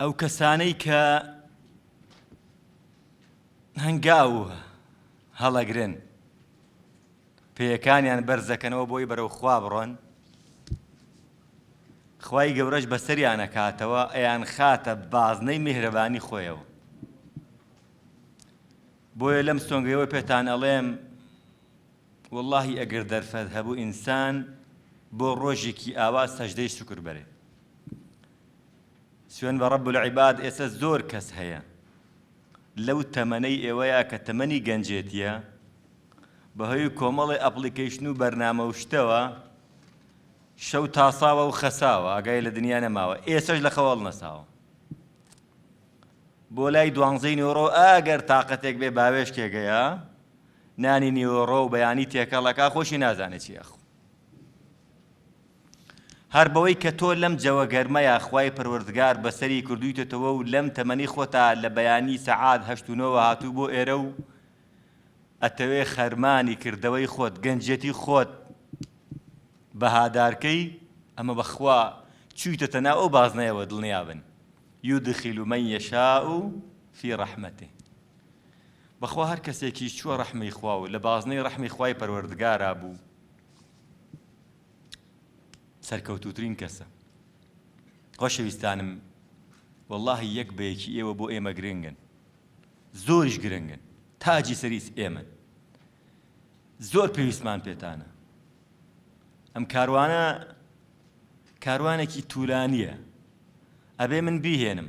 ئەو کەسانەی کە هەنگاو هەڵەگرن پێیەکانیان بەرزەکەنەوە بۆی بەرەو خوا بڕۆن خوای گەورەش بەسەریانە کاتەوە ئەیان خاتە بازنەی میهرەبانی خۆیەوە بۆیە لەم سۆنگەوە پێتان ئەڵێم وەڵاهی ئەگەر دەرفەت هەبوو ئینسان بۆ ڕۆژێکی ئاوا سەژدەی شوکر بەرێ سوێن بە ڕەب العباد ئێستا زۆر کەس هەیە لەو تەمەنەی ئێوەیە کە تەمەنی گەنجێتیە بەهۆی کۆمەڵی ئەپلیکیشن و بەرنامە و شتەوە شەو تاساوە و خەساوە ئەگای لە دنیا نەماوە ئێسش لە خەواڵ نەساوە بۆ لای دوانزەی نۆرۆ ئەگەر تااقەتێک بێ باوێشکێگەیە نانی نیوەڕۆ و بەیانی تێکەڵ ئەکا خۆشی نازانێ چی ئەخوا هەر بەوەی کە تۆ لەم جەوە گەرمەیە خوای پەروەردگار بەسەری کردویتەتەوە و لەم تەمەنی خۆتا لە بەیانی سەعات هەشت و نۆوە هاتوو بۆ ئێرە و ئەتەوێ خەرمانی کردەوەی خۆت گەنجێتی خۆت بەهادارکەی ئەمە بەخوا چوویتەتە ناو ئەو بازنەیەوە دڵنیابن یودخیل من یشاء فی رحمته بەخوا هەر کەسێکیش چووە ڕەحمی خوا و لە بازنەی ڕەحمی خوای پەروەردگارا بوو سەرکەوتووترین کەسە خۆشەویستانم واللهی یەک بەیەکی ئێوە بۆ ئێمە گرنگن زۆریش گرنگن تاجی سەریس ئێمن زۆر پێویستمان پێتانە ئەم کاروانە کاروانێکی تورانیە ئەبێ من بیهێنم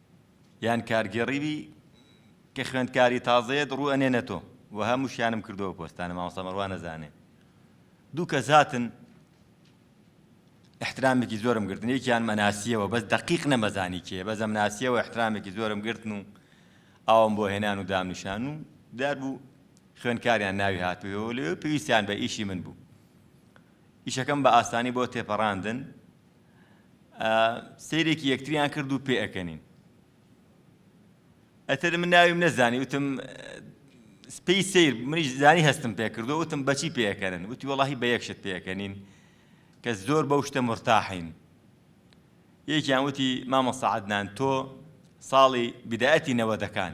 یان کارگێڕی بی کە خوێندکاری تازەیەت ڕوو ئەنێنە تۆ و هەموو شیانم کردەوە پۆستانە مامۆستا مەڕوان نەزانێ دوو کەس هاتن احترامێکی زۆرم گرتن یەکیان مەناسیەوە بەس دقیق نەمەزانی کێ بەس ئەم ناسیەوە احترامێکی زۆرم گرتن و ئاوم بۆ هێنان و دامنیشان و دار بوو خوێنکاریان ناوی هاتووەوە لەوێ پێویستیان بە ئیشی من بوو ئیشەکەم بە ئاسانی بۆ تێپەڕاندن سەیرێکی یەکتریان کرد و پێ ئەکەنین ئەتر من ناویم نەزانی وتم سپی سیر منیش زانی هەستم پێکردو وتم بەچی پێەکەنن وتی وڵی بە یەکشت پێەکەنین کە زۆر بەو شتە مرتاحین یەکیان وتی مامە سەعدنان تۆ ساڵی بدایەتی نەوەدەکان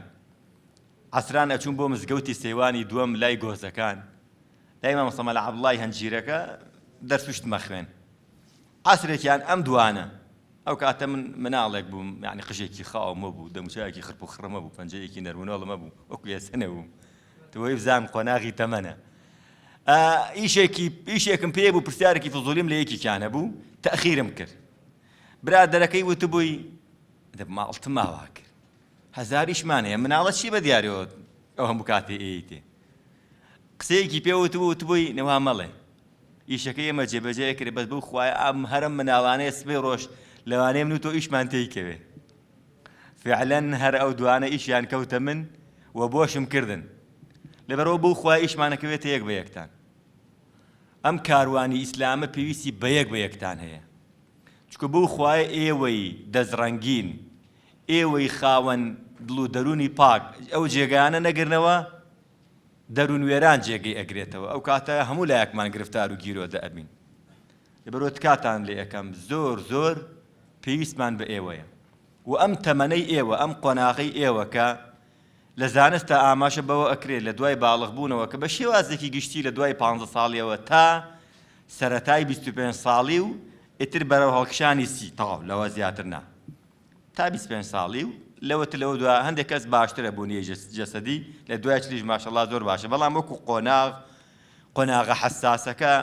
عسران ئەچوون بۆ مزگەوتی سەیوانی دووەم لای گۆزەکان لای مامۆستا مەلا عەبدوڵای هەنجیرەکە دەرس و شتمە خوێن عەسرێکیان ئەم دوانە ئەو کاتە من مناڵێک بووم یعنی قژێکی خاومە بوو دەموچایەکی خرپ و خڕمە بوو پەنجەیەکی نەرمونۆڵمە بوو وەکو ێسەنە بووم توی بزان قۆناغی تەمەە ئیشێکی ئیشێکم پێ بوو پرسیارێکی فزولیم لە یەکێکیانە بوو تاخیرم کرد برادەرەکەی وتبووی دەبماڵتماوا کرد هەزاریشمان هەیە مناڵە چی بەدیارەوە ئەو هەموو کاتێ ئێیتێ قسەیەکی پێ وتبوو وتبووی نەوا مەڵێ ئیشەکەی ئێمە جێبەجێ کرد بەس بەو خوایە ئەم هەرم مناڵانەیە سبەی ڕۆژ لەوانەیە من و تۆ ئیشمان تێی کەوێ فعلا هەر ئەو دوانە ئیشیان کەوتە من و بۆشم کردن لەبەرەوە بەو خوای ئیشمانەکەوێتە یەک بە یەکتان ئەم کاروانی ئیسلامە پێویستی بە یەک بە یەکتان هەیە چکە بەو خوای ئێوەی دەستڕەنگین ئێوەی خاوەن دڵ و دەروونی پاک ئەو جێگایانە نەگرنەوە، دەروون وێران جێگەی ئەگرێتەوە، ئەو کاتە هەموو لایەکمان گرفتار و گیرۆدە ئەبین. لەبەرئەوە تکاتان لێ ئەکەم، زۆر زۆر پێویستمان بە ئێوەیە و ئەم تەمەنەی ئێوە، ئەم قۆناغەی ئێوە کە لە زانستدا ئاماژە بەوە ئەکرێت لە دوای باڵغ بوونەوە کە بە شێوازێکی گشتی لە دوای پانزە ساڵیەوە تا سەرەتای بیست و پێنج ساڵی و ئیتر بەرەو هەڵکشانی سی تەواو لەوە زیاتر نا. تا بیست پێنج ساڵی و لەوەتر لەوە دوا هەندێک کەس باشترە بوونی جەسەدی لە دوای چلیش ماشەڵا زۆر باشە بەڵام وەکو قۆناغ قۆناغە حساسەکە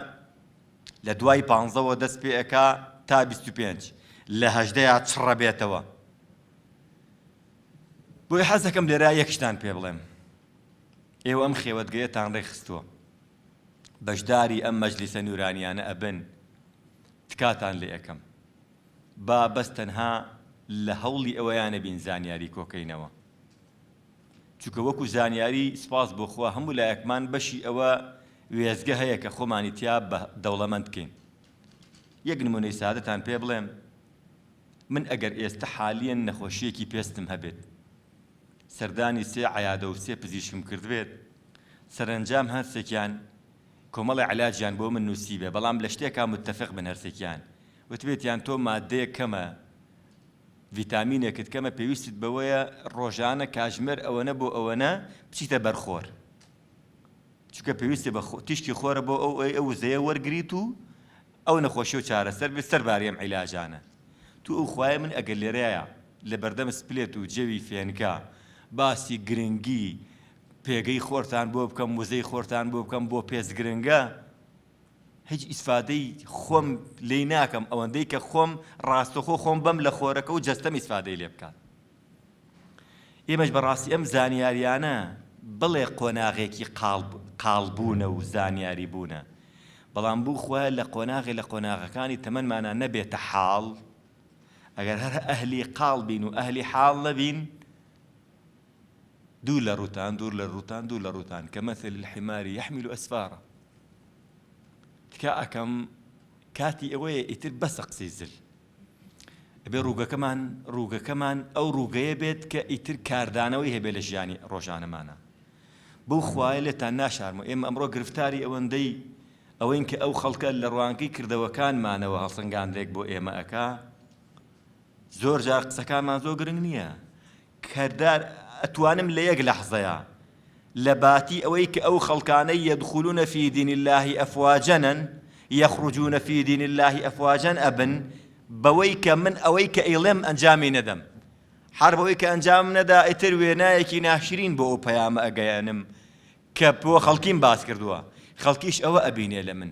لە دوای پانزەوە دەست پێەکە تا 25 لە هەشدەیا چڕە بێتەوە بۆی حەزەکەم لێرا یەکشتان پێ بڵێم ئێوە ئەم خێوەتگەیەتان ڕێکخستووە بەشداری ئەم مەجلیسە نورانیانە ئەبن تکاتان لێ ئەەکەم با بەس تەنها لە هەوڵی ئەوەیا نەبین زانیاری کۆکەینەوە چونکە وەکو زانیاری سپاس بۆ خوا هەموو لایەکمان بەشی ئەوە وێزگە هەیە کە خۆمانی تیا بە دەوڵەمەند بکەین یەک نمونەی سادەتان پێ بڵێم من ئەگەر ئێستا حالیەن نەخۆشیەکی پێستم هەبێت سەردانی سێ عیادە و سێ پزیشکم کردبێت سەرنجام هەرسێکیان کۆمەڵی علاجیان بۆ من نووسیبێ بەڵام لە شتێکا متتەفق بن هەرسێکیان وتبێتیان تۆ ماددەیەک کەمە، ڤیتامینێکت کەمە پێویستت بەوەیە ڕۆژانە کاژمێر ئەوەنە بۆ ئەوەنە بچیتە بەر خۆر. چونکە پێویستە بە تیشکی خۆرە بۆ ئەو ئەو وزەیە وەرگریت و ئەو نەخۆشی و چارەسەر بێت سەرباری ئەم عیلاجانە. تو ئەو خوایە من ئەگەر لێرەیە لە بەردەم سپلێت و جەوی فێنکە باسی گرنگی پێگەی خۆرتان بۆ بکەم، وزەی خۆرتان بۆ بکەم، بۆ پێست گرنگە، هیچ ئیسفادەی خۆم لێی ناکەم ئەوەندەی کە خۆم ڕاستەخۆ خۆم بەم لە خۆرەکە و جەستەم ئیسفادەی لێ بکات ئێمەش بەڕاستی ئەم زانیاریانە بڵێ قۆناغێکی قاڵبوونە و زانیاری بوونە بەڵام بوو خۆ لە قۆناغی لە قۆناغەکانی تەمەمانە نەبێتە حاڵ ئەگەر هەر ئەهلی قاڵ بین و ئەهلی حاڵ نەبین دوور لە ڕووتان، دوور لە ڕووتان، دوور لە ڕووتان، کمثل الحمار یحمل اسفارا. تکا ئەکەم کاتی ئەوەیە ئیتر بەسە قسەی زل. ئەبێ ڕووگەکەمان ڕووگەکەمان ئەو ڕووگەیە بێت کە ئیتر کاردانەوەی هەبێ لە ژیانی ڕۆژانەمانە. بەو خوایە لێتان ناشارمەوە ئێمە ئەمڕۆ گرفتاری ئەوەندەی ئەوەین کە ئەو خەڵکە لە ڕوانگەی کردەوەکانمانەوە هەڵسەنگاندێک بۆ ئێمە ئەکا، زۆر جار قسەکانمان زۆر گرنگ نییە کەردار ئەتوانم لە یەک لەحزەیە لە باتی ئەوەی کە ئەو خەڵکانەی یەدخولونە فی دین الله ئەفواجەنن یەخرجونە فی دین الله ئەفواجەن ئەبن بەوەی کە من ئەوەی کە ئەیڵێم ئەنجامی نەدەم هەر بەوەی کە ئەنجام نەدا ئیتر وێنایەکی ناشرین بۆ ئەو پەیامە ئەگەیەنم کە بۆ خەڵکیم باس کردووە خەڵکیش ئەوە ئەبینێ لە من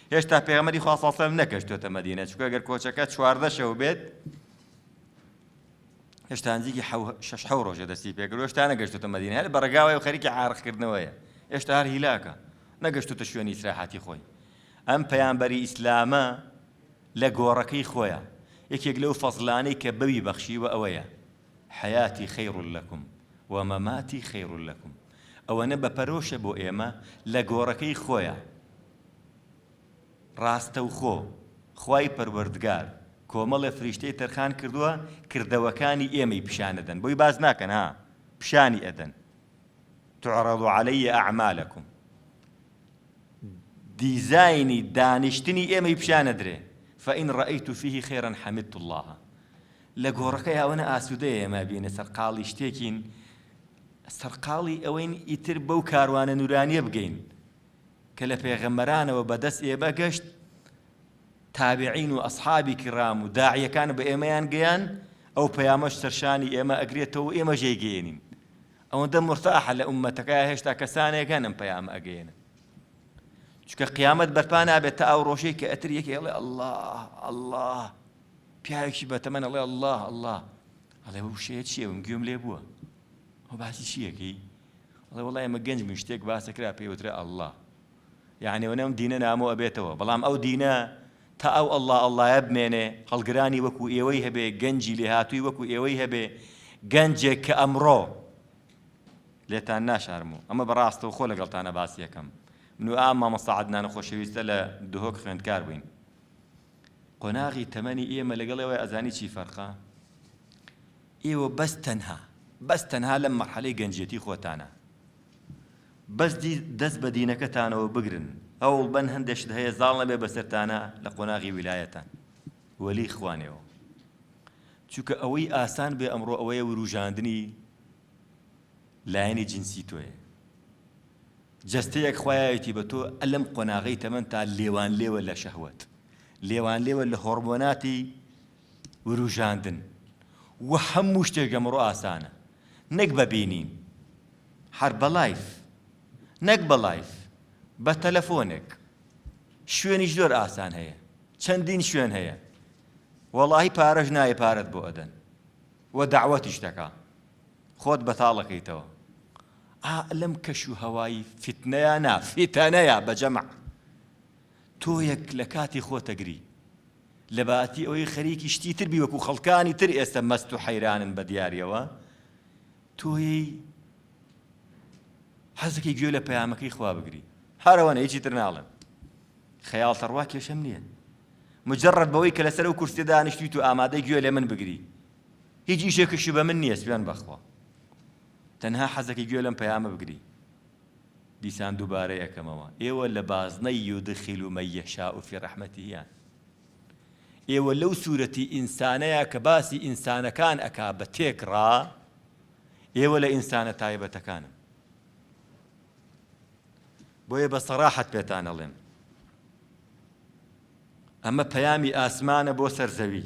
هێشتا پێغەمبەری خوا صلی الله علیه و سلم نەکەشتۆتە مەدینە چونکە گەر کۆچەکە چواردە شەو بێت هێشتا نزیکی شش حەو ڕۆژە دەستی پێکرد هێشتا نەگەشتۆتە مەدینە هەر بەڕگاوای و خەریکی عارقکردنەوەیە هێشتا هەر هیلاکە نەگەشتۆتە شوێنی ئیسراحەتی خۆی ئەم پەیامبەری ئیسلامە لە گۆڕەکەی خۆیان یەکێک لەو فەزلانەی کە بەوی بەخشیوە ئەوەیە حەیاتی خەیڕ لەکم و مەماتی خەیڕ لەکم ئەوەنە بە پەرۆشە بۆ ئێمە لە گۆڕەکەی خۆیان ڕاستەوخۆ خوای پەروەردگار کۆمەڵێ فریشتەی تەرخان کردووە کردەوەکانی ئێمەی پیشان ئەدەن بۆی باس ناکەن ها پیشانی ئەدەن تعرض علی اعمالکم دیزاینی دانیشتنی ئێمەی پیشان ئەدرێ فإن رأيت فيه خيرا حمدت الله لە گۆڕەکە یاوەنە ئاسوودەیە ئێمە بینە سەرقاڵی شتێکین سەرقاڵی ئەوەین ئیتر بەو کاروانە نورانیە بگەین کە لە پێغەمبەرانەوە بە دەست ئێمە گەشت، تابعین و ئەسحابی کیڕام و داعیەکان بە ئێمەیان گەیان، ئەو پەیامەش سەرشانی ئێمە ئەگرێتەوە و ئێمەش دەیگەیەنین. ئەوەندە مورتاحە لە ئوممەتەکە هێشتا کەسانێک هەن ئەم پەیامە ئەگەیەنن. چونکە قیامەت بەرپا نابێت تا ئەو ڕۆژەی کە ئەتر یەکێ ئەڵێ ئەڵڵا ئەڵڵا پیاوێکی بەتەمەن ئەڵێ ئەڵڵا ئەڵڵا ئەڵێ وشەیە چییە من گوێم لێ بووە ئەوە باسی چی ئەکەی؟ ئەڵێ وەڵا ئێمە گەنج بووین شتێک باس دەکرا پێی وترا ئەڵڵا یعنی وەنە ئەم دینە نامۆ ئەبێتەوە بەڵام ئەو دینە تا ئەو ئەڵڵا ئەڵڵایە بمێنێ هەڵگرانی وەکو ئێوەی هەبێ گەنجی لێهاتووی وەکو ئێوەی هەبێ گەنجێک کە ئەمڕۆ لێتان ناشارم و ئەمە بەڕاستەوە خۆ لەگەڵتانە باسی یەکەم من و ئام مامۆستا عەدنان خۆشەویستە لە دهۆک خوێندکار بووین قۆناغی تەمەنی ئێمە لەگەڵ ئێوەی ئەزانی چی فەرقە ئێوە بەس تەنها بەس تەنها لەم مەرحەلەی گەنجیەتی خۆتانە بەس دی دەست بە دینەکەتانەوە بگرن هەوڵ بەن هەندێ شت هەیە زاڵ نەبێ بەسەرتانە لە قۆناغی ویلایەتان وەلی خوانێەوە چونکە ئەوەی ئاسان بێ ئەمڕۆ ئەوەیە وروژاندنی لایەنی جنسی تۆیە جەستەیەک خوایەتی بە تۆ ئەلم قۆناغی تەمەن تا لێوان لێوە لە شەهوت لێوان لێوە لە هۆرمۆناتی وروژاندن و هەموو شتێک لەمڕۆ ئاسانە نەک بە بینین هەر بە لایڤ نەک بە لایڤ بە تەلەفۆنێک شوێنیش زۆر ئاسان هەیە چەندین شوێن هەیە وەڵاهی پارەش نایە پارەت بۆ ئەدەن و داوەتیش دەکا خۆت بەتاڵەکەیتەوە ئا لەم کەش و هەوایی فتنەیە نا فتەنەیە بە جەمع تۆ یەک لە کاتی خۆتەگری لەباتی ئەوەی خەریکی شتی تر بی وەکو خەڵکانی تر ئێستە مەست و حەیرانن بە دیاریەوە تۆیی حەزەکەی گوێ لە پەیامەکەی خوا بگری هەرەوەنە هیچی تر ناڵێم خەیاڵ تەڕوا کێشەم نییە مجرد بەوەی کە لەسەر و کورسێ دانیشتویت و ئامادەی گوێ لێ من بگری هیچ ئیشێکشی بە من نییە سوێن بەخوا تەنها حەزەکەی گوێ لەم پەیامە بگری دیسان دوبارەی ئەکەمەوە ئێوە لە بازنەی یودخل من یشاء فی رحمتهیان ئێوە لەو سورەتی ئینسانەیە کە باسی ئینسانەکان ئەکا بە تێکڕا ئێوە لە ئینسانە تایبەتەکانن بۆیە بە سەراحەت پێتان ئەڵێم ئەمە پەیامی ئاسمانە بۆ سەر زەوی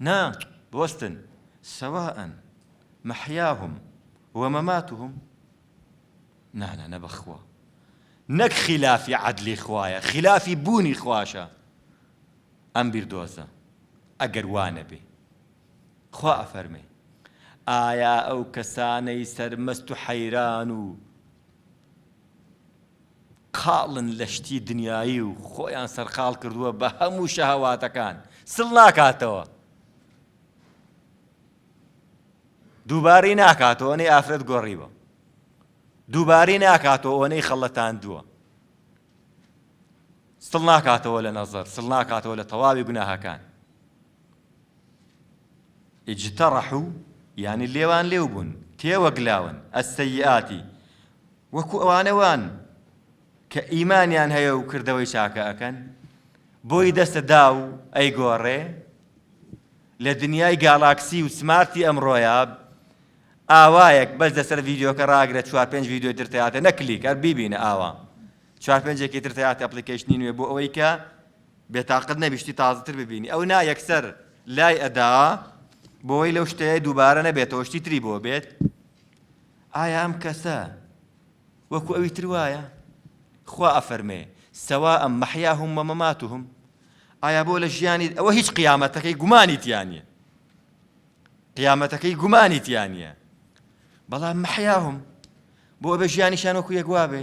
نا بوەستن سواء محیاهم ومماتهم نا نا نەبەخوا نەک خلافی عدلی خوایە خلافی بوونی خواشە ئەم بیردۆزە ئەگەر وانە بێ خوا ئەفەرمێ ئایا ئەو کەسانەی سەرمەست و حەیران و قاڵن لە شتی دنیایی و خۆیان سەرقاڵ کردووە بە هەموو شەهەواتەکان سڵ ناکاتەوە دووبارەی ناکاتەوە نەی ئافرەت گۆڕیوە دووبارەی ناکاتەوە ئەوەنەی خەڵەتاندووە سڵ ناکاتەوە لە نەزەر سڵ ناکاتەوە لە تەواوی گوناهەکان اجترحو یانی لێوان لێو بوون، تێوەگلاون، السیئات وەکو ئەوانە وان کە ئیمانیان هەیە و کردەوەی چاکە ئەکەن، بۆی دەستە دا و ئەیگۆڕێ لە دنیای گالاکسی و سمارتی ئەمڕۆیە ئاوایەک بەس لەسەر ڤیدیۆکە ڕاگرە چوار پێنج ڤیدیۆی تر تەیاتە نەکلیک هەر بیبینە ئاوا چوار پێنجێکی تر تەیاتە ئەپلیکەیشنی نوێ بۆ ئەوەی کە بێتاقەت نەبی شتی تازەتر ببینی ئەو نا یەکسەر لای ئەدا بۆی لەو شتەیە دووبارە نەبێتەوە شتی تری بۆ بێت ئایا ئەم کەسە وەکو ئەوی تر وایە خوا ئەفەرمێ سەوا ئەم مەحیا هم وە مەمات هم ئایا بۆ لە ژیانی ئەوە هیچ قیامەتەکەی گومانی تیانە قیامەتەکەی گومانی تیانە بەڵام مەحیا هم بۆ بە ژیانیشان وەکو یەکوا بێ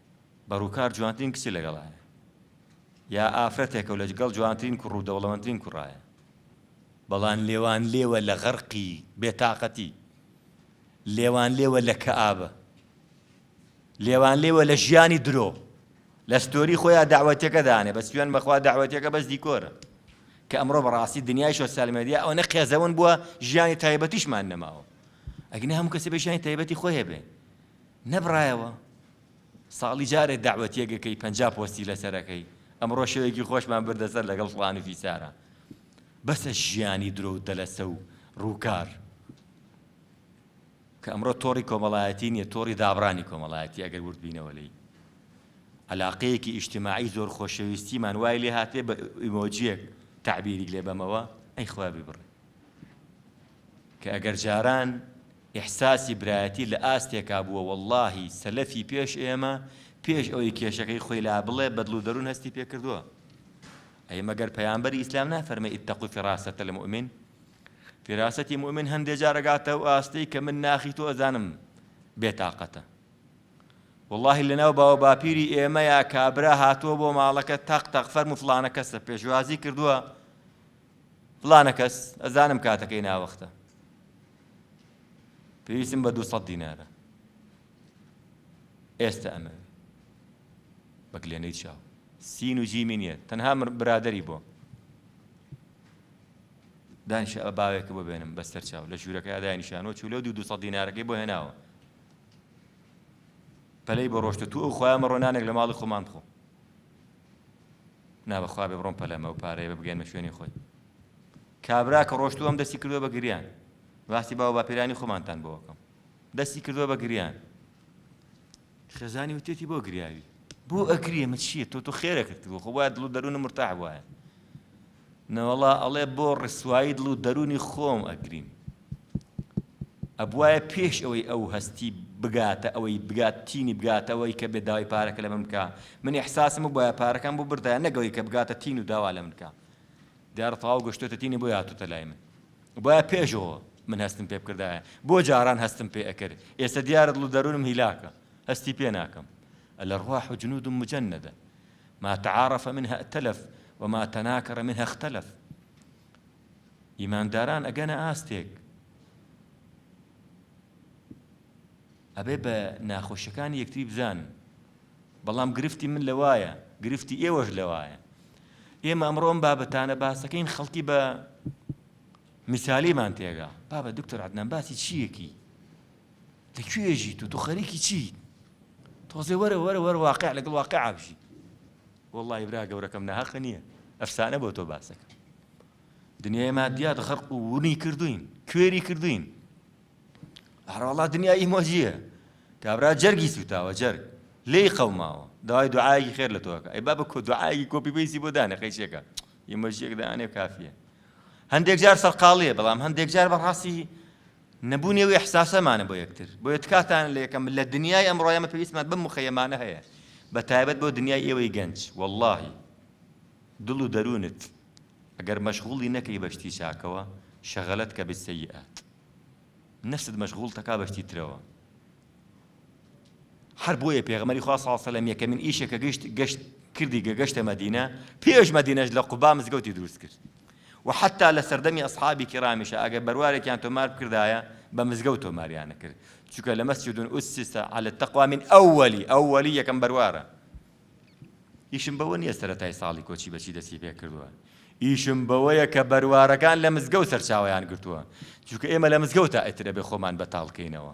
بە ڕووکار جوانترین کچی لەگەڵایە یا ئافرەتێکە و لەگەڵ جوانترین کوڕ و دەوڵەمەندترین کوڕایە بەڵام لێوان لێوە لە غەرقی بێتاقەتی لێوان لێوە لە کەئابە لێوان لێوە لە ژیانی درۆ لە ستۆری خۆیان داوەتەکە دانێ بە سوێن بەخوا داوەتەکە بەس دیکۆرە کە ئەمڕۆ بەڕاستی دنیای سۆسیال مێدیا ئەو نە قێزەون بووە ژیانی تایبەتیشمان نەماوە ئەگنە هەموو کەسە بە ژیانی تایبەتی خۆی هەبێ نەبڕایەوە ساڵی جارێ دەعوەتیەک ئەکەی پەنجا پۆستی لەسەر ئەکەی ئەمڕۆ شەوێکی خۆشمان بردە سەر لەگەڵ فڵان و فیسارە بەسە ژیانی درۆ و دەلەسە و ڕووکار کە ئەمڕۆ تۆڕی کۆمەڵایەتی نییە تۆڕی دابڕانی کۆمەڵایەتی ئەگەر وردبینەوە لی علاقەیەکی ئیشتماعی زۆر خۆشەویستیمان وای لێ هاتێ بە ئیمۆجیەک تعبیری لێ بەمەوە ئەی خوا ببڕێ کە ئەگەر جاران ئیحساسی برایەتی لە ئاستێکا بووە وەڵڵاهی سەلەفی پێش ئێمە پێش ئەوەی کێشەکەی خۆی لا بڵێ بە دڵ و دەروون هەستی پێ کردووە ئەی مەگەر پەیامبەری ئیسلام نافەرمێ اتقوا فراست المؤمن فراستتی مؤمن هەندێ جار ئەگاتە ئەو ئاستەی کە من ناخی تۆ ئەزانم بێتاقەتە واللهی لەناو باوە باپیری ئێمەیە کابرا هاتووە بۆ ماڵەکە تەق تەق فەرمو فڵانە کەسە پێشوازی کردووە فلانە کەس ئەزانم کاتەکەی ناوەختە پێویستم بە دوو سەد دینارە ئێستا ئەمە بە گلێنەی چاو سین و جیمی نییە تەنها برادری بۆ دانیشە ئە باوێکە بۆ بێنم بەسەر چاو لە ژوورەکە یادای نیشانەوە چولە و دوو دو سەد دینارەکەی بۆ هێناوە پەلەی بە ڕۆشتە تو ئەو خۆیان مەڕۆنانێک لە ماڵی خۆمان بخۆ نا بەخوا بێ بڕۆم پەلەمە و پارەیە بە بگەێنمە شوێنی خۆی کابرا کە ڕۆشتوو ئەم دەستی کردووە بە گریان باسی باوە باپیرانی خۆمانتان بۆکەم دەستی کردووە بە گریان خێزانی وتێتی بۆ گریاوی بۆ ئەگریێمە چییە تۆ تۆ خێرە کردووە خۆ وایە دڵ دەروونە مرتاح وایە نەوەڵا ئەڵێ بۆ ڕسوایی دڵ و دەروونی خۆم ئەگریم ئەبوایە پێش ئەوەی ئەو هەستی بگاتە ئەوەی بگات تینی بگاتە ئەوەی کە بێ داوای پارەکە لە من بکە من ئیحساسم بوایە پارەکەم بۆ بردایە نەگەوەی کە بگاتە تین و داوا لە من بکە دیارە تەواو گەشتۆتە تینی بۆ هاتوتە لای من بۆیە پێشەوە من هەستم پێ بکردایە بۆ جاران هەستم پێ ئەکرد ئێستا دیارە دڵ و دەروونم هیلاکە هەستی پێ ناکەم لە ڕواح و جنود و مجەندە ما تعارف منها ائتلف وما تناکر منها اختلف ئیمانداران ئەگەنە ئاستێک ئەبێ بە ناخۆشیەکانی یەکتری بزان بەڵام گرفتی من لەوایە گرفتی ئێوەش لەوایە ئێمە ئەمڕۆم بابەتانە باسەکەین خەڵکی بە مثالیمان تێگا بابە دکتۆر عدنان باسی چیەکی تە کوێ ئێژی تۆ تۆ خەریکی چی تۆزێ وەرە وەرە وەرە واقع لەگەڵ واقع ئابژی وەڵی برا گەورەکەم ناهەقە نییە ئەفسانە بۆ تۆ باسەکە دنیای مادیات غەرق و ونی کردوین کوێری کردوین هەرواڵا دنیای مۆجیە کابرا جەرگی سوتاوە جەرگ لێی قەوماوە داوای دوعاەکی خێر لە تۆکە ئەی بابە کۆ دوعاەکی کۆپی بەیسی بۆ دانێ قەیشێکە ئیمەژیەک دانێ کافیە هەندێک جار سەرقاڵیە بەڵام هەندێک جار بەڕاستی نەبوونی ئەو ئیحساسەمانە بۆ یەکتر، بۆیە تکاتان لە یەکەم، لە دنیای ئەمڕۆ ئێمە پێویستمان بەم مخەیەمانە هەیە، بە تایبەت بۆ دنیای ئێوەی گەنج، وەڵڵاهی دڵ و دەروونت ئەگەر مەشغوڵی نەکەی بە شتی چاکەوە، شغلتک بالسیئات، نەفست مەشغوڵتەکا بە شتی ترەوە، هەر بۆیە پێغەمبەری خوا صلی الله علیه یەکەمین ئیشێک کە گەشت گەشت کردی گە گەشتە مەدینە پێش مەدینەش لە قوبا مزگەوتی دروست کرد و حتا لە سەردەمی ئەصحابی کرامیشە ئەگەر بەروارێکیان تۆمار بکردایە بە مزگەوت تۆماریانە کرد چونکە لە مەسجدون ئوسیسە على التقوى من ئەوەلی ئەوەلی یەکەم بەروارە ئیشم بەوە نییە سەرەتای ساڵی کۆچی بەچی دەسی پێ کردووە ئیشم بەوەیە کە بەروارەکان لە مزگەوت سەرچاویان گرتووە چونکە ئێمە لە مزگەوتە ئەترە بێ خۆمان بەتاڵکەینەوە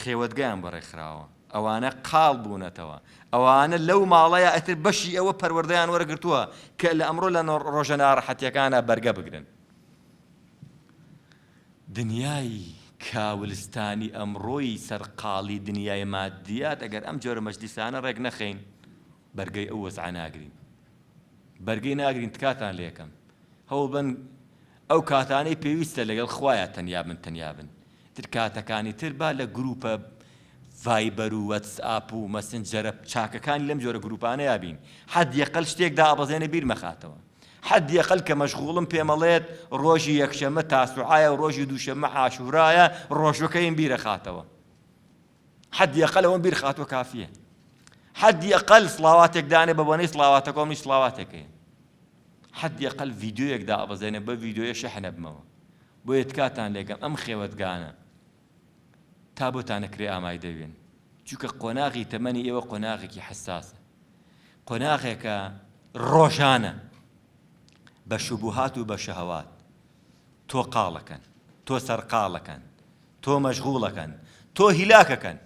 خێوەتگەیان بە ڕێکخراوە ئەوانە قاڵ بوونەتەوە ئەوانە لەو ماڵەیە ئەتر بەشی ئەوە پەروەردەیان وەرگرتووە کە لە ئەمڕۆ لە ڕۆژە ناڕەحەتیەکانە بەرگە بگرن دنیای کاولستانی ئەمڕۆی سەرقاڵی دنیای مادیات ئەگەر ئەم جۆرە مەجلیسانە ڕێک نەخەین بەرگەی ئەو وەزعە ناگرین بەرگەی ناگرین تکاتان لێکەم هەوڵبەن ئەو کاتانەی پێویستە لەگەڵ خوایە تەنیا بن تەنیا بن تر کاتەکانی تر با لە گروپە ڤایبەر و وەتسئاپ و مەسنجەرە چاکەکانی لەم جۆرە گروپانەیا بین حەد یەقەل شتێک دابەزێنە بیر مەخاتەوە حەد یەقەل کە مەشغوڵم پێمەڵێت ڕۆژی یەکشەمە تاسوعایە و ڕۆژی دووشەمە عاشورایە ڕۆژەکەیم بیرەخاتەوە حەدی ئەقەل ئەوەم بیر خاتووە کافییە حەدی ئەقەل سڵاواتێک دانێ بە بۆنەی سڵاواتەکە منیش سڵاواتێک هەیە حەدی ئەقەل ڤیدیۆیەک دابەزێنێ بە ڤیدیۆیە شەحنە بمەوە بۆیە تکاتان لێکەم ئەم خێوەتگانە تا بۆتانە کرێ ئامای دەوێن چونکە قۆناغی تەمەنی ئێوە قۆناغێکی حساسە قۆناغێکە ڕۆژانە بە شوبهات و بە شەهوات تۆ قاڵەکەن، تۆ سەرقاڵەکەن، تۆ مەشغوڵەکەن، تۆ هیلاکەکەن.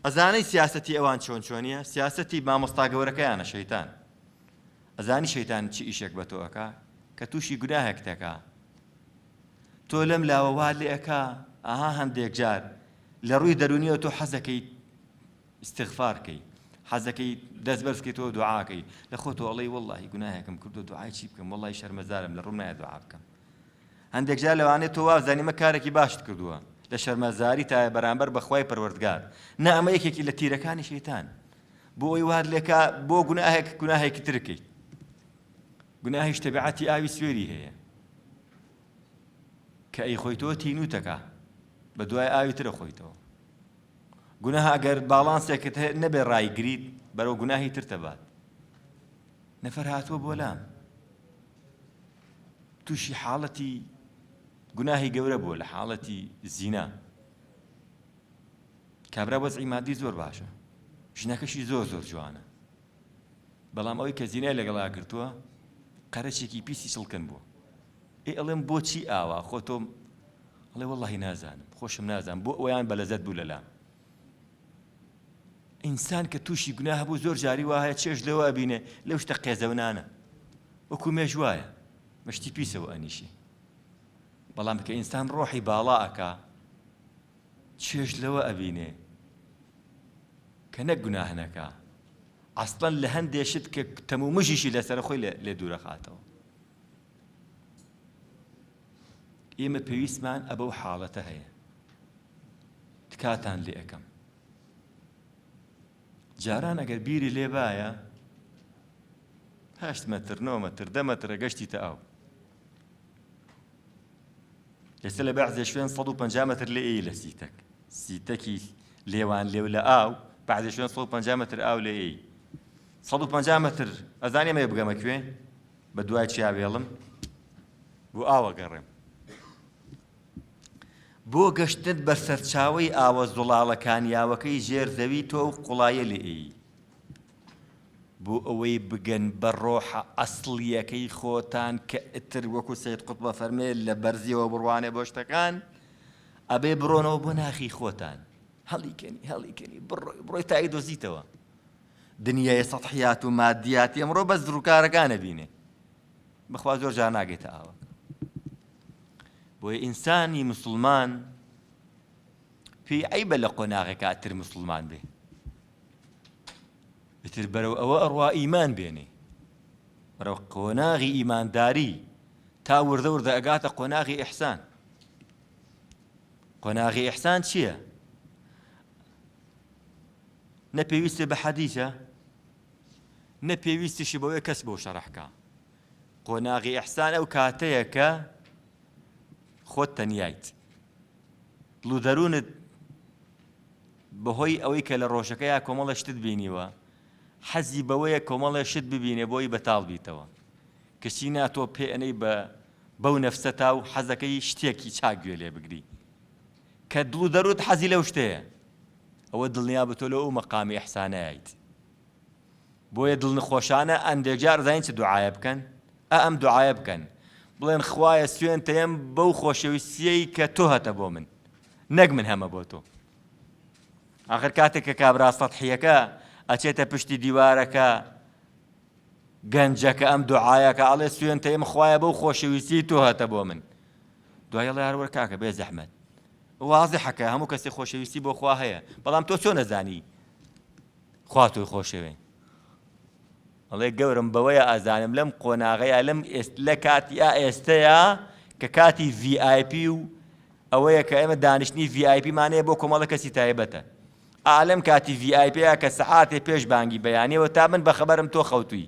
ئەزانیت سیاسەتی ئەوان چۆن چۆنیە؟ سیاسەتی مامۆستا گەورەکەیانە شەیتان. ئەزانی شەیتان چ ئیشێک بە تۆ ئەکا؟ کە تووشی گوناهێک تەکا. تۆ لەم لاوە وا لێ ئەکا، ئاها هەندێک جار لە ڕووی دەرونیەوە تۆ حەزەکەیت ئیستیغفار کەی حەزەکەی دەست بەرز کەیتەوە دوعا کەی لە خۆتەوە ئەڵێی وەڵڵاهی گوناهێکم کردوە دوعای چی بکەم وەڵڵاهی شەرمەزارم لە ڕووم نایە دوعا بکەم هەندێک جار لەوانەیە تۆ وابزانی مە کارێکی باشت کردووە لە شەرمەزاری تایە بەرامبەر بەخوای پەروەردگار نا ئەمە یەکێکی لە تیرەکانی شەیتان بۆ ئەوی وهات لێکا بۆ گوناهێک گوناهێکی ترکەی گوناهیش تەبعەتی ئاوی سوێری هەیە کە ئەی خۆیتەوە تینوتەکە بە دوای ئاوی ترە خۆیتەوە گوناهە ئەگەر باڵانسێکت هەیە نەبێ ڕایگریت بەرەو گوناهی تر تەبات نەفەر هاتووە بۆ لام تووشی حاڵەتی گوناهی گەورە بووە لە حاڵەتی زینا کابرا وەزعی مادی زۆر باشە ژنەکەشی زۆر زۆر جوانە بەڵام ئەوی کە زینای لەگەڵا گرتووە قەرەشێکی پیسی چڵکن بووە ئێ ئەڵێم بۆچی ئاوا خۆ تۆم ئەڵێ وەڵڵاهی نازانم خۆشم نازانم بۆ ئەویان بە لەزەت بوو لەلام ئینسان کە تووشی گونا هەبوو زۆر جاری وایە چێش لەوە ئەبینێ لەو شتە قێزەونانە وەکو مێش وایە مەشتی پیسەوە ئەنیشێ بەڵام کە ئینسان ڕۆحی باڵا ئەکا چێش لەوە ئەبینێ کە نەک گوناهنەکە ئەسڵەن لە هەندێ شت کە تەمومژیشی لەسەر خۆی لێ دوورەخاتەوە ئێمە پێویستمان ئە بەو حاڵەتە هەیە تکاتان لێ ئەەکەم جاران ئەگەر بیری لێ باە هەشت مەتر نۆ مەتر دە مەترە گەشتی تە ئاو ئێستا لە بەعزێ شوێن 150 متر لێ ئەی لە سیتەک سیتەکی لێوان لێو لە ئاو بعدێ شوێن 150 متر ئاو لێ ئەی 150 متر ئەزانێ مێ بگەمە کوێ بە دوای چیا وێڵم بۆ ئاو ئەگەڕێم. بۆ گەشتنت بە سەرچاوەی ئاوە زوڵاڵەکانی ئاوەکەی ژێر زەوی تۆ و قوڵایە لێ ئێی. بۆ ئەوەی بگەن بە ڕۆحە ئەسڵییەکەی خۆتان کە ئیتر وەکو سەید قوتب ئەفەرمێ لە بەرزییەوە بڕوانێ بۆ شتەکان، ئەبێ بڕۆنەوە بۆ ناخی خۆتان. هەڵیکەنی هەڵیکەنی بڕۆی بڕۆی تا ئەیدۆزیتەوە. دنیای سەتحیات و مادیاتی ئەمڕۆ بەس دڕوکارەکان ئەبینێ بەخوا زۆر جار ناگەێتە ئاوە بۆیە ئینسانی مسلمان پێی عیبە لە قۆناغێکا تر مسلمان بێ ئیتر بەرەو ئەوە ئەڕوا ئیمان بێنێ بەرەو قۆناغی ئیمانداری تا وردە وردە ئەگاتە قۆناغی ئیحسان قۆناغی ئیحسان چییە؟ نە پێویستە بە حەدیسە نە پێویستیشی بەوەیە کەس بۆ شەڕحکە قۆناغی ئەحسان ئەو کاتەیە کە خۆت تەنیایت لو دەروونت بەهۆی ئەوەی کە لە ڕۆژەکە یا کۆمەڵە شتت بینیوە حەزی بەوەیە کۆمەڵە شت ببینێ بۆی بەتاڵ بیتەوە کەچی ناتۆ پێ ئەەی بە بەو نەفسەتا و حەزەکەی شتێکی چاک گوێ لێ بگری کە دڵ و دەروت حەزی لەو شتەیە ئەوە دڵنیابە تۆ لەو مەقامی ئیحسانەیت بۆیە دڵنخۆشانە ئەندێجار زانین چ دوعاە بکەن ئە ئەم دوعاە بکەن بڵێن خوایە سوێن تەم بەو خۆشەویستیەی کە تۆ هەتە بۆ من نەک من هەمە بۆ تۆ آخر کاتێک کە کابرا سەحیەکە ئەچێتە پشتی دیوارەکە گەنجەکە ئەم دوعاەکە ئاڵێ سوێن تەم خوایە بەو خۆشەویستی تۆ هەتە بۆ من دوای ئەڵێ هەروەر کاکە بێ زەحمەت واضحە کە هەموو کەسی خۆشەویستی بۆ خوا هەیە بەڵام تۆ چۆن نەزانی خوا تۆی خۆشەوێ ئەڵێ گەورم بەوەیە ئازانم لەم قۆناغەیە لەم لە کاتیا ئێستەیە کە کاتی VIP و ئەوەیە کە ئێمە دانیشتنی VIP مانەیە بۆ کۆمەڵە کەسی تایبەتە ئالم کاتی VIP کە سەعاتێ پێش بانگی بەیانەوە تا من بەخەبەرم تۆ خەوتوی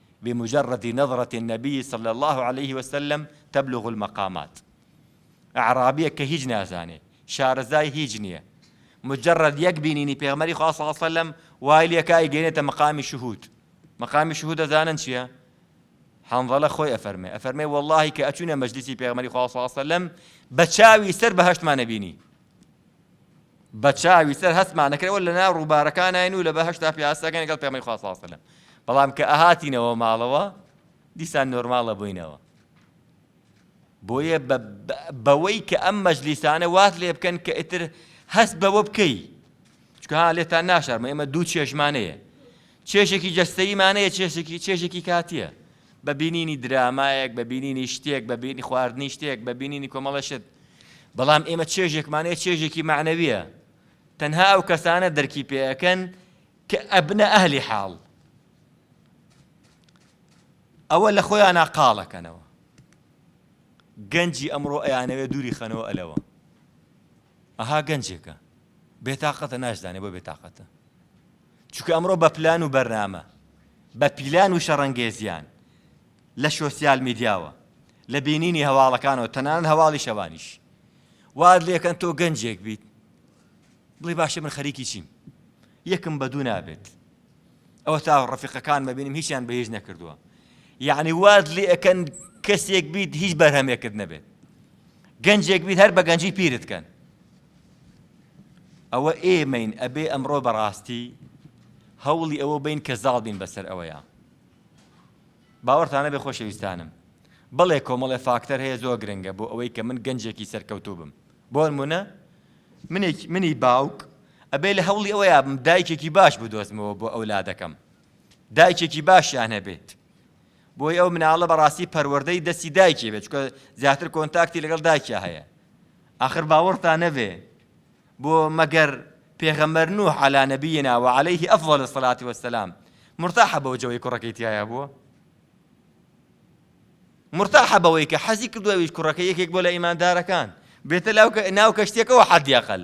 بمجرد نظرة النبی صلی اللە علیە وسلم تبلغ المقامات ئەعرابیەک کە هیچ نازانێ شارەزای هیچ نیە مجرد یەک بینینی پێغمەری خوا صلی اللە علیە وسلم وای لێکا ئەیگەێنێتە مقامی شهود مقامی شهود دەزانن چیە حنظلە خۆی ئەفەرمێ ئەفەرمێ واللهی کە ئەچوینە مەجلیسی پێغمەری خوا صلی اللە علیه وسلم بە چاوی سەر بەهشتمانە بینی بەچاوی سەر هەستمان دەکرد ئەوە لەناو ڕووبارەکانین و لە بەهەشتا پیاسەکەین لەگەڵ پێغەمبەری خوا صلی الله علیه وسلم بەڵام کە ئەهاتینەوە ماڵەوە دیسان نۆرماڵە بووینەوە بۆیە بەوەی کە ئەم مەجلیسانە وات لێ بکەن کە ئیتر هەست بەوە بکەی چکە ها لێتان ناشارمە ئێمە دوو چێژمانەیە چێژێکی جەستەیمانەیە چێژێکی چێژێکی کاتیە بە بینینی درامایەک، بە بینینی شتێک، بە بینی خواردنی شتێک، بە بینینی کۆمەڵە شت. بەڵام ئێمە چێژێکمان هەیە چێژێکی مەعنەویە. تەنها ئەو کەسانە دەرکی پێ ئەکەن کە ئەبنە ئەهلی حاڵ. ئەوە لە خۆیانە قاڵەکەنەوە. گەنجی ئەمڕۆ ئەیانەوێ دووری خەنەوە ئەلەوە. ئەها گەنجێکە. بێتاقەتە ناشزانێ بۆ بێتاقەتە. چونکە ئەمڕۆ بە پلان و بەرنامە، بە پیلان و شەڕەنگێزیان لە شۆسیال میدیاوە، لە بینینی هەواڵەکانەوە، تەنانەت هەواڵی شەوانیش، وات لێ کەن تۆ گەنجێک بیت، بڵێی باشە من خەریکی چیم؟ یەکم بە دوو نابێت. ئەوە تا ڕەفیقەکانمە بینیم هیچیان بە هیچ نەکردووە. یعنی وات لێ ئەکەن کەسێک بیت هیچ بەرهەمێکت نەبێت. گەنجێک بیت هەر بە گەنجی پیرت کەن. ئەوە ئێمەین ئەبێ ئەمڕۆ بەڕاستی هەوڵی ئەوە بین کە زاڵ بین بەسەر ئەوەیە باوەڕتانە بێ خۆشەویستانم بڵێ کۆمەڵێ فاکتەر هەیە زۆر گرنگە بۆ ئەوەی کە من گەنجێکی سەرکەوتوو بم بۆ منە منێک منی باوک ئەبێ لە هەوڵی ئەوە یابم دایکێکی باش بدۆزمەوە بۆ ئەولادەکەم دایکێکی باشیان هەبێت بۆیە ئەو مناڵە بەڕاستی پەروەردەی دەستی دایکی بێت چکە زیاتر کۆنتاکتی لەگەڵ دایکیا هەیە ئاخر باوەڕتان نەبێ بۆ مەگەر پێغەمەر نوح على نبينا وعليه أفضل الصلاة والسلام مرتاح بەو جەوەی کوڕەکەی تایە بووە مرتاح بەوەی کە حەزی کردوەویش کوڕەکە یەکێک بۆ لە ئیماندارەکان بێتە لاو ناو کەشتێکەوە حەدیەقل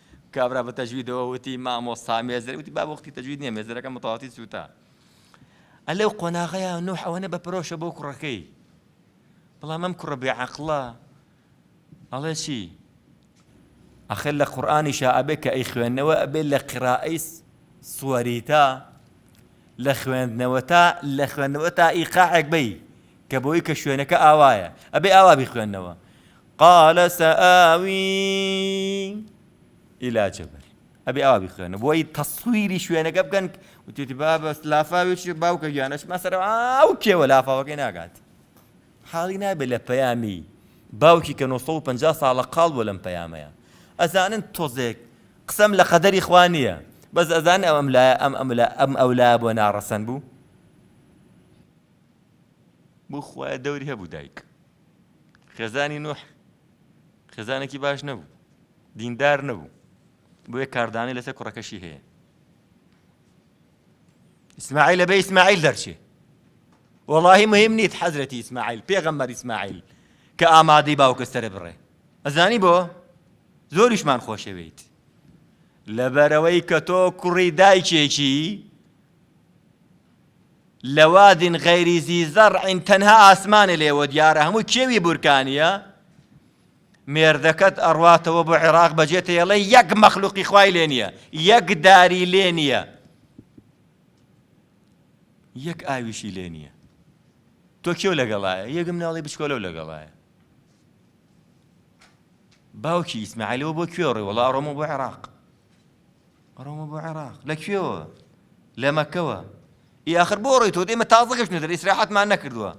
کابرا بە تەجویدەوە وتی مامۆستا مێزەر وتی بابە وەختی تەجوید نییە مێزەرەکە متەواتی سووتا ئە لەو قۆناغەیە نوح ئەوەنە بە پرۆشە بۆ کوڕەکەی بەڵام ئەم کوڕە بێعەقڵە ئەڵێ چی ئەخر لە قورآانیشا ئەبێت کە ئەی خوێندنەوە ئەبێت لە قرائی سوەریتا لە خوێندنەوە تا لە خوێندنەوە تا ئیقاعێک بی کە بۆی کە شوێنەکە ئاوایە ئەبێ ئاوا بخوێندنەوە قال سآوی الى جبل ئەبێ ئاوا بخوێنە بۆی تەسویری شوێنەکە بکەن وتێتی بابە لافاوێکی باوکە گیانەش مەسەر ئاو کێوە لافاوەکەی ناگات حاڵی نابێت لە پەیامی باوکی کە 950 ساڵە قاڵ بۆ لەم پەیامەیە ئەزانن تۆزێک قسەم لە قەدەری خوا نییە بەس ئەزان ئەم ئەم لایە ئەم ئەم ئەم ئەو لایە بۆ ناڕەسەن بوو بخوایە دەوری هەبوو دایک خێزانی نوح خێزانێکی باش نەبوو دیندار نەبوو بۆیە کاردانەی لەسەر کوڕەکەشی هەیە ئیسماعیل بە ئیسماعیل دەرچێ وەڵی مهم نیت حەزرەتی ئیسماعیل پێغەمبەر ئیسماعیل کە ئامادەی باوکە سرە بڕێ ئەزانی بۆ زۆریشمان خۆشەوێیت لەبەرەوەی کە تۆ کوڕی دایکێکی لواد غیر ذی زرع تەنها ئاسمانێ لێوە دیارە هەمووی کێوی بورکانییە مێردەکەت ئەڕواتەوە بۆ عێراق بەجێ تێڵێ یەک مەخلوقی خوای لێ نییە یەک داری لێ نییە یەک ئاویشی لێ نییە تۆ کێو لەگەڵایە یەکم ناڵی بچکۆلە و لەگەڵایە باوکی ئیسماعیلەوە بۆ کوێڕێ وڵا ڕۆمە بۆ عێراق ئەڕۆمە بۆ عێراق لە کوێوە لە مەکەوە ئی ئاخر بۆ ڕێی تۆ ئێمە تازە گەشتنەدەر ئیسراحەتمان نەکردووە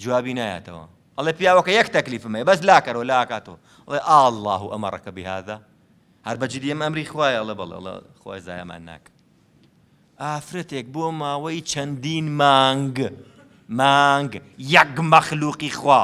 جوابی نایەتەوە ئەڵێ پیاوەکە یەک تەکلیفمە بەس لاکەرەوە لاکاتۆ ئەڵێ ئاله و ئەمەڕەکە بهذا هەر بەجدی ئەم ئەمری خوایە ئەڵێ بەڵێ ئەڵە خوای زایەمان ناکە ئافرەتێک بۆ ماوەی چەندین مانگ مانگ یەک مەخلوقی خوا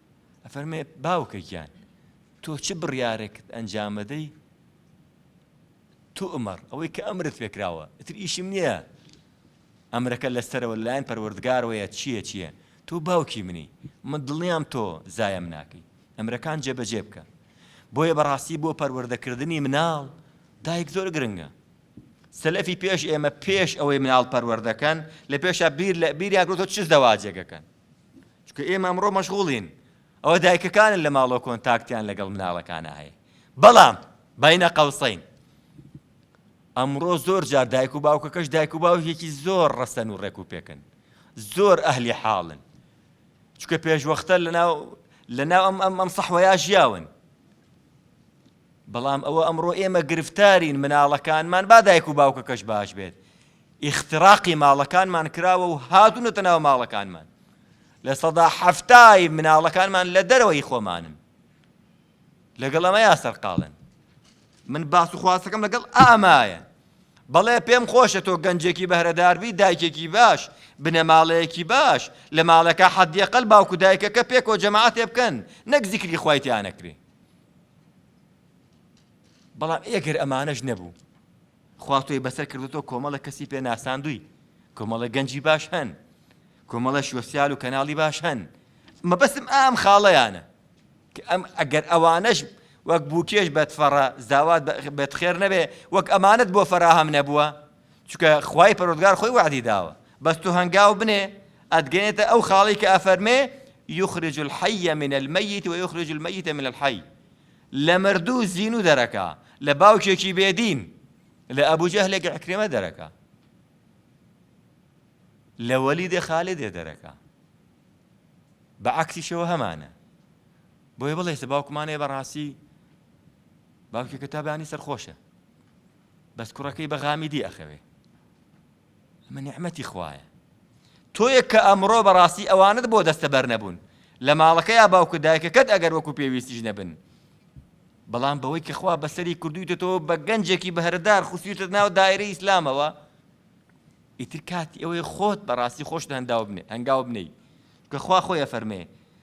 ئەفەرمێ، باوکە گیان، تۆ چ بڕیارێکت ئەنجامەدەی؟ توئمەڕ، ئەوەی کە ئەمرت پێکراوە، ئیتر ئیشم نییە ئەمرەکە لە سەرەوە لە لایەن پەروەردگارەوەیە چییە چییە، تۆ باوکی منی، من دڵنیام تۆ زایەم ناکەی، ئەمرەکان جێبەجێ بکە. بۆیە بەڕاستی بۆ پەروەردەکردنی مناڵ، دایک زۆر گرنگە. سەلەفی پێش ئێمە پێش ئەوەی مناڵ پەروەردەکەن، لە پێشا بیر لە بیریان کردووە چ زەواجێک ئەکەن. چونکە ئێمە ئەمڕۆ مەشغوڵین ئەوە دایکەکانن لە ماڵۆ کۆنتاکتیان لەگەڵ مناڵەکانە هەیە بەڵام باینە قەوسین ئەمڕۆ زۆر جار دایک و باوکەکەش دایک و باوکێکی زۆر ڕەسەن و ڕێک و پێکن زۆر ئەهلی حاڵن چکە پێشوەختە لەناو لەناو ئەم ئەم ئەم سەحوەیا ژیاون بەڵام ئەوە ئەمڕۆ ئێمە گرفتارین مناڵەکانمان با دایک و باوکەکەش باش بێت ئیختراقی ماڵەکانمان کراوە و هاتونەتە ناو ماڵەکانمان لە سەدا حەفتای مناڵەکانمان لە دەرەوەی خۆمانن لەگەڵ ئەمەیا سەرقاڵن من باس و خواستەکەم لەگەڵ ئامایە بەڵێ پێم خۆشە تۆ گەنجێکی بەهرەداربی دایکێکی باش بنەماڵەیەکی باش لە ماڵەکە حەدیەقل باوکو دایکەکە پێکۆ جەماعاتێ بکەن نەک زیکری خوایتیانەکرێ بەڵام ئێ گەر ئەمانەش نەبوو خوا تۆی بەسەر کردوتەوە کۆمەڵە کەسی پێ ناساندووی کۆمەڵە گەنجی باش هەن کۆمەڵە شۆسیال و کەناڵی باش هەن مەبەستم ئام خاڵەیانە کە ئەم ئەگەر ئەوانەش وەک بووکێش بەتفەڕە زاوات بێت خێر نەبێ وەک ئەمانەت بۆ فەراهەم نەبووە چونکە خوای پەروەردگار خۆی وەعدی داوە بەس تۆ هەنگاو بنێ ئەتگەێتە ئەو خاڵی کە ئەفەرمێ یخرج الحی من المیت و یخرج المیت من الحی لە مردوو زین و دەرەکە لە باوکێکی بێدین لە ئەبوجه لێک عکرێمە دەرەکە لە وەلی دێ خالی دێ دەرەکە بە عکسیشەوە هەمانە بۆی بڵێ سە باوکمانێ بەڕاستی باوکێکە تابانی سەرخۆشە بەس کوڕەکەی بە غامیدی ئەخەوێ ئەمە نیعمەتی خوایە تۆیەک کە ئەمڕۆ بەڕاستی ئەوانت بۆ دەستە بەر نەبوون لە ماڵەکە یا باوکە دایکەکەت ئەگەر وەکو پێویستیش نەبن بەڵام بەوەی کە خوا بەسەری کردویتە تۆ بە گەنجێکی بەهردار خوسیتە ناو دایرە ئیسلامەوە ئیتر کاتی ئەوەی خۆت بەڕاستی خۆشت هەنداو بنێ هەنگاو بنەی کە خوا خۆی ئەفەرمێ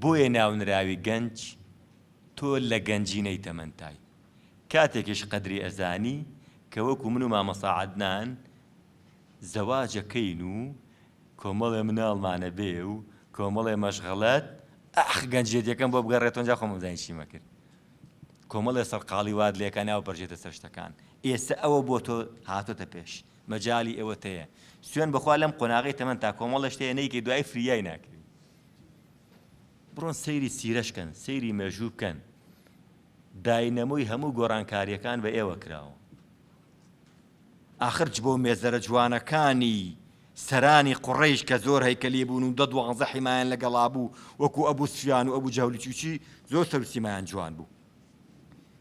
بۆیە ناونراوی گەنج تۆ لە گەنجینەی تەمەنتای کاتێکیش قەدری ئەزانی کە وەکو من و مامۆستا عەدنان زەواجەکەین و کۆمەڵێ مناڵمانە بێ و کۆمەڵێ مەشغەلەت ئاخ گەنجێتیەکەم بۆ بگەڕێتەوە ئەنجا خۆم ئەزانی چیمە کرد کۆمەڵێ سەرقاڵی واد لێکە ناو پەرژێتە سەر شتەکان ئێستا ئەوە بۆ تۆ هاتۆتە پێش مەجالی ئەوەتەیە سوێن بەخوا لەم قۆناغی تەمەن تا کۆمەڵە شتەیە نەیکەی دوای فریای ناکەی بڕۆن سەیری سیرەش کەن سەیری مێژوو بکەن داینەمۆی هەموو گۆڕانکاریەکان بە ئێوە کراوە ئاخرچ بۆ مێزەرە جوانەکانی سەرانی قڕیش کە زۆر هەیکەلی بوون و دە دوانزە حیمایان لەگەڵا بوو وەکو ئەبوو سفیان و ئەبوو جەولی چوچی زۆر سەرسیمایان جوان بوو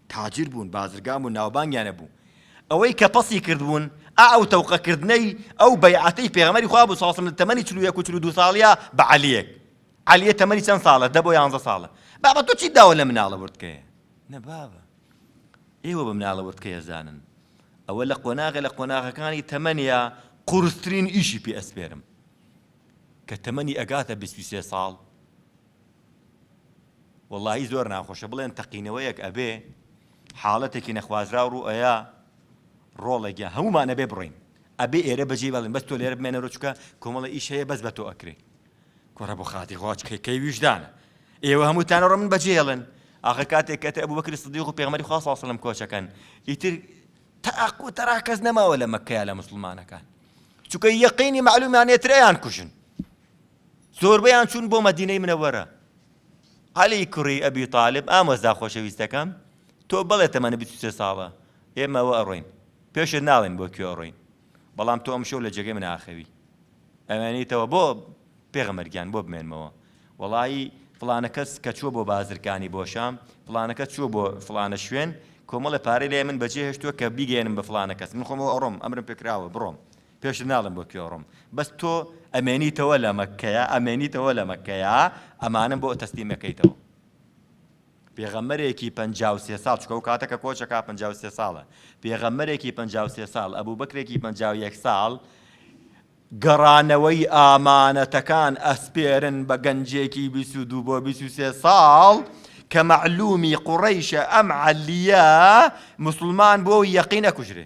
تاجر بوون بازرگان بوون ناوبانگیان هەبوو ئەوەی کە پەسی کردبوون ئا ئەو تەوقە کردنەی ئەو بەیعەتەی پێغەمبەری خوا بوو صلی اللە علیە و سلم لە تەمەنی چل و یەک و چل و دوو ساڵیا بە عەلیەک عەلیە تەمەنی چەند ساڵە دە بۆ یانزە ساڵە بابە تۆ چیت داوە لە مناڵە وردکەیە نە بابە ئێوە بە مناڵە وردکەیە زانن ئەوە لە قۆناغە لە قۆناغەکانی تەمەنیا قورسترین ئیشی پێ ئەسپێرم کە تەمەنی ئەگاتە 23 ساڵ وەڵاهی زۆر ناخۆشە بڵێن تەقینەوەیەک ئەبێ حاڵەتێکی نەخوازراو ڕوو ئەیا ڕۆڵێکە هەمومان ئەبێ بڕۆین ئەبێ ئێرە بەجێ بەڵێن بەس تۆ لێرە بمێنە ڕچکە کۆمەڵە ئیش هەیە بەس بە تۆ ئەکرێ کوڕە بۆ خاتی خواچ کەی ویژدانە ئێوە هەمووتان ڕۆ من بەجێڵن ئاخە کاتێک کەتە ئەبوو بەکری سدیق و پێغمەری خوا ساسەڵم کۆچەکەن ئیتر تاق و تەرا کەس نەماوە لە مەکەیە لە مسلمانەکان چونکە یەقینی معلومیانێترەیان کوژن زۆربەیان چوون بۆ مەدینەی منەوەرە عەلی کوڕی ئەبی تاالب ئامۆزا خۆشەویستەکەم تۆ بڵێ تەمەنە بیسێ ساڵە ئێمەوە ئەڕۆین پێشت ناڵێن بۆ کوێ ئەڕۆین بەڵام تۆ ئەم شەو لە جێگەی من ئاخەوی ئەوێنیتەوە بۆ پێغەمەرگیان بۆ بمێنمەوە وەڵایی فلانە کەس کە چووە بۆ بازرکانی بۆ شام فلانەکە چووە بۆ فلانە شوێن کۆمەڵە پارەی لای من بەجێ هێشتووە کە بیگەێنم بە فلانە کەس من خۆمەوە ئەڕۆم ئەمرم پێکراوە بڕۆم پێشت ناڵێم بۆ کوێ ئەڕۆم بەس تۆ ئەمێنیتەوە لە مەککەیە ئەمێنیتەوە لە مەککەیە ئەمانەم بۆ تەسلیمەکەیتەوە پێغەمەرێکی پێ سێ ساڵ چکە و کاتەکە کۆچەکە پێ سێ ساڵە پێغەمەرێکی پێ سێ ساڵ ئەبوو بکرێکی پێ یەک ساڵ گەڕانەوەی ئامانەتەکان ئەسپێرن بە گەنجێکی بیست و دوو بۆ بیست و سێ ساڵ کە مەعلومی قوڕیشە ئەم عەلیە مسلمان بۆ یەقینە کوژرێ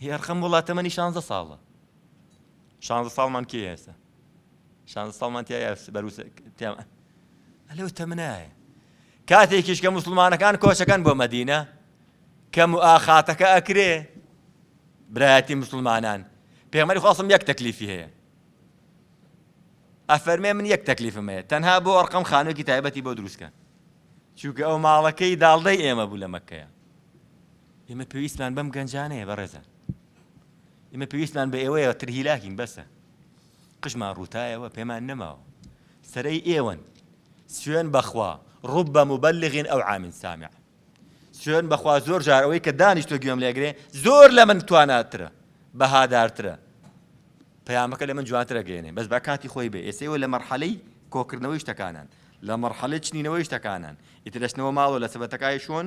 هی ئەرخەم وڵا تەمەنی شانزە ساڵە شانزە ساڵمان کێ ئێستا شانزە ساڵمان تیا بەروس تێمە ئەلەو تەمنایە کاتێکیش کە مسلمانەکان کۆچەکان بۆ مەدینە کەم و ئاخاتەکە ئەکرێ برایەتی مسلمانان پێمەری خواستم یەک تەکلیفی هەیە ئەفەرمێ من یەک تەکلیفم هەیە تەنها بۆ ئەرقەم خانوێکی تایبەتی بۆ دروستکە چونکە ئەو ماڵەکەی داڵدەی ئێمە بوو لە مەکەیە ئێمە پێویستمان بەم گەنجانەیە بەڕێزان ئێمە پێویستمان بە ئێوەیە تر هیلاکین بەسە قژمان ڕووتایەوە پێمان نەماوە سەرەی ئێوەن سوێن بەخوا ڕوب بە مبلغین ئەو عامین سامع سوێن بەخوا زۆر جار ئەوەی کە دانیشتۆ گوێم لێگرێ زۆر لە من تواناترە بەهادارترە پەیامەکە لە من جوانترە گەێنێ بەس بە کاتی خۆی بێ ئێسەوە لە مەرحەلەی کۆکردنەوەی شتەکانان لە مەرحەلە چنینەوەی شتەکانان ئیتر دەستنەوە ماڵەوە لە سەبەتەکای شۆن